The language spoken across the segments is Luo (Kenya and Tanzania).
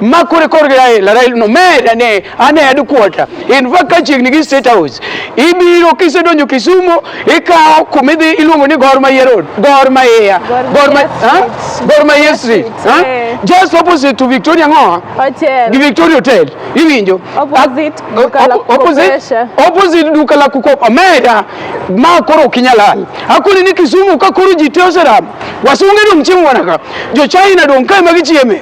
ma kore korgi Raila, Raila no med ane ane headquarter. In fact ka chiegni gi State House, ibiro kisedonjo Kisumu, ikawo kuma idhi iluongo ni Gor Mahia Road, Gor Mahia, Gor Mahia, ha? Gor Mahia Street, ha? Eh. Just opposite to Victoria Ngoa, Hotel. gi Victoria Hotel, iwinjo? Opposite Ak- duka la op- opposite- kukopesha. opposite duka la kukopa meda ma koro ok inyal hal akoni ni Kisumu ka koro ji te oseram wasunge dong' chiemo mana ka jo China dong' kae ma gichieme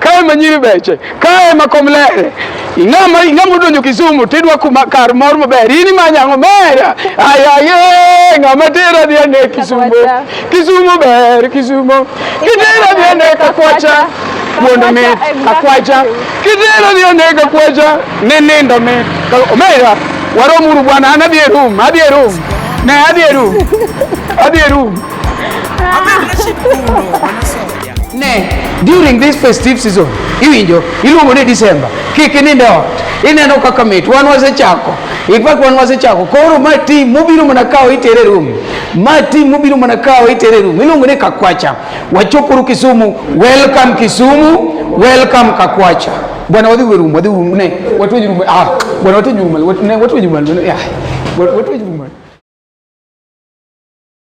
kae ema nyiri beche kae ema kom lere ing'ama ing'ama odonjo Kisumu tidwa kuma kar mor maber in imanyo ang'o mera ayaye ng'ama tera dhi ane Kisumu Kisumu ber Kisumu kitera dhi ane Kakwacha wuondo mit Kakwacha kitera dhi ane Kakwacha ni nindo mit omera waromuru bwana an adhi e room adhi e room ne adhi e room adhi e room Ne, during this festive season, iwinjo, iluongo ni December, kik ininde ot. Ineno kaka mit, wan wasechako. In fact, wan wasechako. Koro ma team mobiro mana kawo itere room. Ma team mobiro mana kawo itere room. Iluongo ni Kakwacha. Wachopuru Kisumu. Welcome Kisumu. Welcome Kakwacha. Bwana wadhi room, wadhi room ne. Watu wa room. Ah, bwana watu wa room. Watu wa room. Ah, watu wa room.